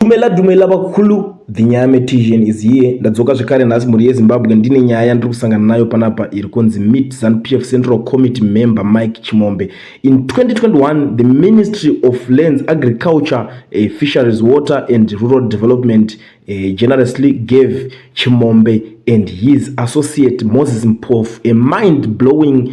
Dumela dumela vakulu the nyame tijen is here ndadzoka zvekare nhasi mhuri yezimbabwe ndine nyaya yandiri kusangana nayo panapa iri kunzi mit zanu pf central committee member mike chimombe in 2021 the ministry of lands agriculture uh, fisheries water and rural development uh, generously gave chimombe and his associate moses mpofu a mind blowing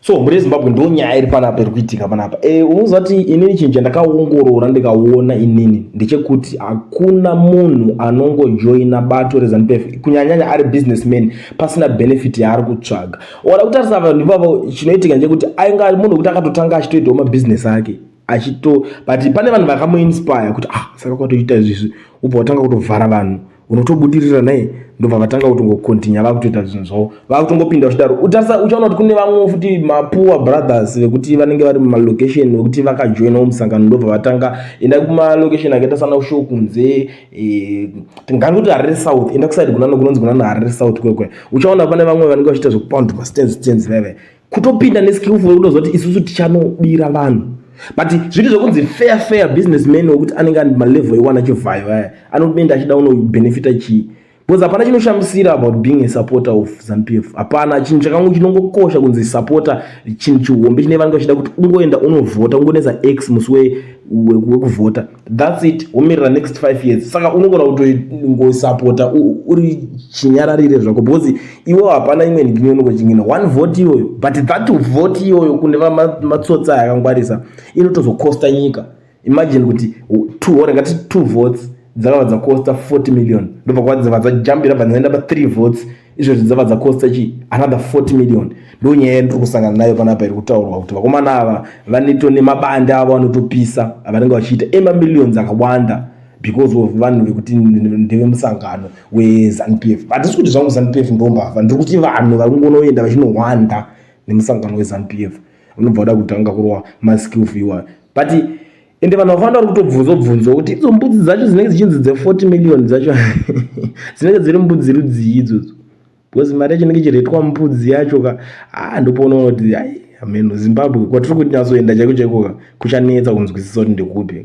so mune zimbabwe ndo nyaya iri panapa iri kuitika panapa e, eh, unoziva kuti inini chinhu chandakaongorora ndikaona inini ndechekuti hakuna munhu anongojoina bato rezanup f kunyanyanya ari businessman pasina benefit yaari kutsvaga oda kutarisa vanhu ivavo chinoitika ndechekuti ainga munhu wekuti akatotanga achitoitawo mabhizinesi ake achito but pane vanhu vakamuinspire kuti ah saka kwatoita izvizvi ubva watanga kutovhara vanhu unotobudirira naye ndobva vatanga kutongocontinua vakutoita zvinhu zvavo vakutongopinda zvidaro utarisa uchaona kuti kune vamwe futi mapoor brothers vekuti vanenge vari mumalocation vekuti vakajoinawo musangano ndobva vatanga enda kumalocation akaita sana kushow kunze eh, tingani kuti harare south enda kusaidi kunano kunonzi kunano harare south kwekwe uchaona pane vamwe vanenge vachiita zvekupound mastands stands veve kutopinda neskillful kutozoti isusu tichanobira vanhu but zviri zvekunzi fair fair business man wekuti anenge andi malevel ewana chivhayo aya anotenda achida unobenefita chii because hapana chinoshamisira about being a supporter of zanupf hapana chinhu chakangu chinongokosha kunzi supporter chinhu chihombe chine vanenge vachida kuti ungoenda unovhota ungonetsa x musi wekuvhota thats it womirira next five years saka unogona kutoingosapota uri chinyararire zvako because iwo hapana imwe nhigini unongochin'ina one vote iyoyo but that vote iyoyo kune vamatsotsa ma, yakangwarisa inotozokosta nyika imagine kuti two hore ngati two votes dzakava dzakosta 40 million ndobva kwadzava dzajambira bva dzaenda pa three votes izvozvi dzava dzakosta chii another 40 million ndo nyaya yandiri kusangana nayo panapa iri kutaurwa kuti vakomana ava vaneto nemabande avo vanotopisa avanenge vachiita emamillions akawanda because of vanhu vekuti ndevemusangano wezanu p f hatisi kuti zvangu zanu p f ndombavha ndiri kuti vanhu vari kungonoenda vachinohwanda nemusangano wezanu p f unobva uda kutanga kurova maskills iwayo but ende vanhu vakawanda vari kutobvunza obvunzwa kuti idzo mbudzi dzacho dzinenge dzichinzi dze40 million dzacho dzinenge dziri mbudzi rudzii idzodzo because mari yacho inenge ichiretwa mbudzi yacho ka haa ndopoonaona kuti amen zimbabwe kwatiri kuti nyatsoenda chaiko chaiko ka kuchanetsa kunzwisisa kuti ndekupi